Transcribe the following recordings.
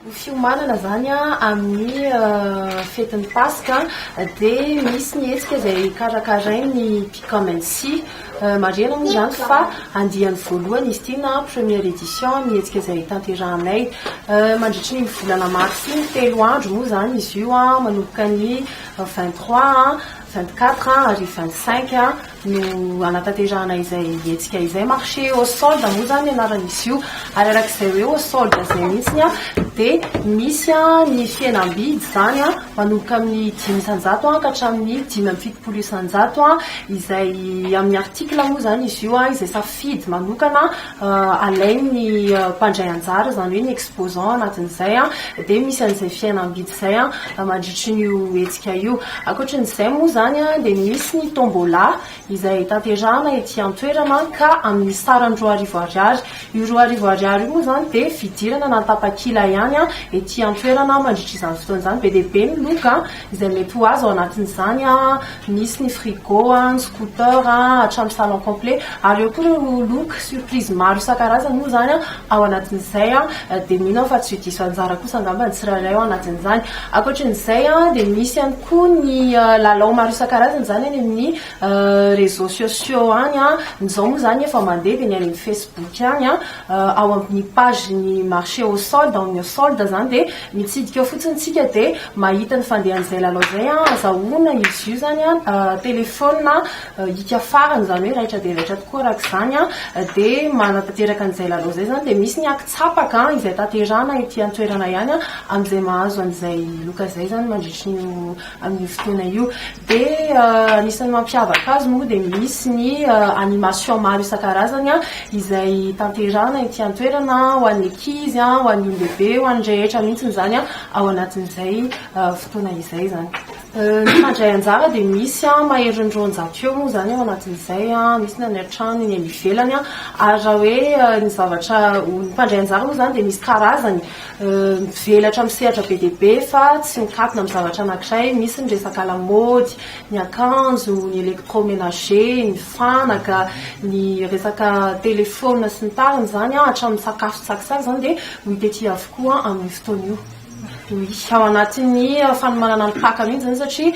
Ny fiomanana izany amin'ny fetin'ny Paska dia misy ny hetsika izay karakarain'ny Picamency. Marihana moa izany fa andiany voalohany izy ity na première édition amin'ny hetsika izay tanterahanay. Mandritry ny volana marsa iny, telo andro moa izany izy io manomboka ny vingt trois, vingt quatre ary vingt cinq. no hanatanterahana izay hetsika izay. Marché aux soldes moa izany ny anaran'izy io. Ary araka izay hoe aux soldes izay mihitsy dia misy ny fihenam-bidy izany manomboka amin'ny dimy isan-jato ka hatramin'ny dimy amby fitopolo isan-jato izay amin'ny article moa izany izy io izay safidy manokana. alain'ny mpandray anjara, izany hoe ny exposants anatin'izay dia misy an'izay fihenam-bidy izay mandritry ny io hetsika io. Ankoatrin'izay moa izany dia misy ny tombola izay tanterahana ety an-toerana ka amin'ny sarany roa arivo ariary. Io roa arivo ariary io moa izany dia fidirana na tapakila ihany ety an-toerana mandritra izany fotoana izany. Be dia be ny loka izay mety ho azy ao anatin'izany misy ny frigo, ny scooter, hatramin'ny salon complet ary eo koa ireo look surprise maro isan-karazany moa izany ao anatin'izay dia mino aho fa tsy diso anjara kosa angamba ny tsirairay ao anatin'izany. Ankoatran'izay dia misy ihany koa ny lalao maro isan-karazany izany any amin'ny réseaux sociaux any, ny izao moa izany efa mandeha dia ny any amin'ny facebook any ao amin'ny page ny marché au solde, ny solde izany dia Mitsidika ao fotsiny tsika de mahita ny fandehan'izay lalao zay an, azahoana izy io zany an telephone hika farany zany hoe raitra dia raitra tokoa araka izany an, de manatanteraka an'izay lalao izay zany de misy ny ankin-tsapaka izay tanterahana ety an-toerana ihany an, amin'izay mahazo an'izay loka izay zany mandritry ny io amin'io fotoana io. Dia anisan'ny mampiavaka azy moa dia misy ny animation maro isan-karazany izay tanterahana ety an-toerana ho an'ny ankizy, ho an'ny olon-dehibe, ho an'ny rehetra mihitsy izany ao anatin'izay fotoana izay izany. Ny mpandray anjara dia misy maherin'ny roanjato eo moa izany ao anatin'izay, misy ny any an-trano, ny any ivelany. Ary raha hoe ny zavatra, ny mpandray anjara moa izany dia misy karazany. mivelatra amin'ny sehatra be dia be fa tsy mikatona amin'ny zavatra anankiray, misy ny resaka lamaody, ny akanjo, ny électroménager, ny fanaka, ny resaka téléphone sy ny tariny izany an, hatramin'ny sakafo tsaky sary izany dia ho hita ety avokoa amin'io fotoana io. Oui, ao anatin'ny fanomanana ny Paka mihitsy izany satria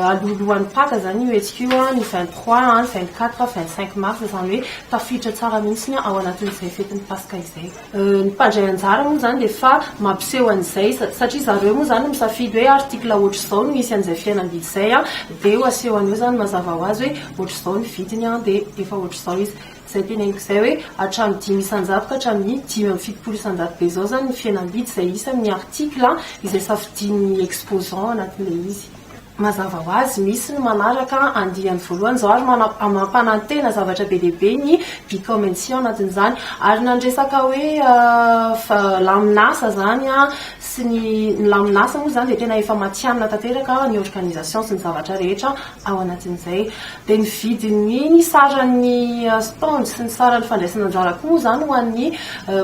alohalohan'ny Paka izany io hetsika io an, ny vingt trois an, ny vingt quatre an, vingt cinq mars izany hoe tafiditra tsara mihitsy ao anatin'izay fetin'ny Paska izay. Ny mpandray anjara moa izany dia efa mampiseho an'izay satria zareo moa izany no misafidy hoe article ohatr'izao no hisy an'izay fihenam-bidy izay dia ho asehony eo izany mazava ho azy hoe ohatr'izao ny vidiny dia efa ohatr'izao izy. Izay teneniko izay hoe hatramin'ny dimy isan-jato ka hatramin'ny dimy amby fitopolo isan-jato be izao izany ny fihenam-bidy izay isan'ny article izay safidian'ny exposant anatin'ilay izy. Mazava ho azy, misy ny manaraka andiany voalohany izao ary mampanantena zavatra be dia be ny Bicommency ao anatin'izany. Ary na ny resaka hoe lamin'asa izany sy ny, ny lamin'asa moa izany dia tena efa matihanina tanteraka ny organisation sy ny zavatra rehetra ao anatin'izay. Dia ny vidin'ny ny saran'ny stand sy ny saran'ny fandraisana anjara koa moa izany ho an'ny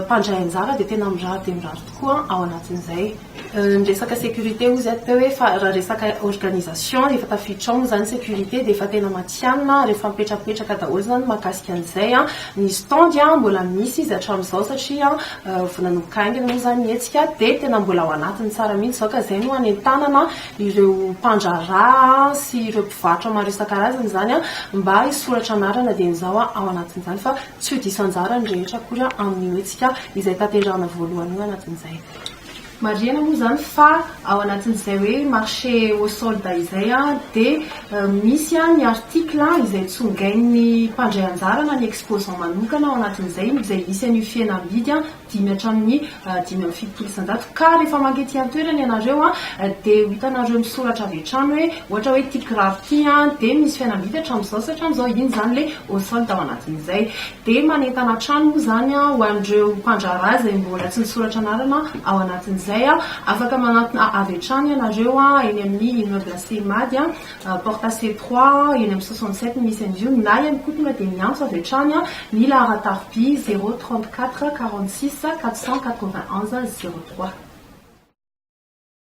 mpandray anjara dia tena mirary dia mirary tokoa ao anatin'izay. Ny resaka sécurité hozy ato hoe fa raha resaka organisation efa tafiditra ao moa izany sécurité dia efa tena matihanina ary efa mipetrapetraka daholo izany ny mahakasika an'izay. Ny stand mbola misy izy hatramin'izao satria vao nanomboka haingana moa izany ny hetsika dia tena mbola ao anatiny tsara mihitsy izao ka izay no hanentanana ireo mpandraharaha sy ireo mpivarotra maro isan-karazany izany mba hisoratra anarana dieny izao ao anatin'izany fa tsy ho diso anjara ny rehetra akory amin'io hetsika izay tanterahina voalohany io anatin'izay. Marihina moa izany fa ao anatin'izay hoe marché aux soldes izay dia misy ny article izay tsongain'ny mpandray anjara na ny exposant manokana ao anatin'izay izay hisy an'io fihenam-bidy dimy hatramin'ny dimy amby fitopolo isan-jato ka rehefa maka ety an-toerana ianareo dia ho hitanareo misoratra avy hatrany hoe ohatra hoe ity kiraro ity dia misy fihenam-bidy hatramin'izao sy hatramin'izao, iny izany ilay aux soldes ao anatin'izay. dia manentana hatrany moa izany ho an'ireo mpandraharaha izay mbola tsy nisoratra anarana ao anatin'izay, afaka manantona avy hatrany ianareo eny amin'ny immeuble Cemad, porte C trois, eny amin'ny soixante sept no misy an'izy io, na ihany koa tonga dia miantso avy hatrany ny laharan-tarobia zéro trente quatre quarante six quatre cent quatre vingt onze zéro trois.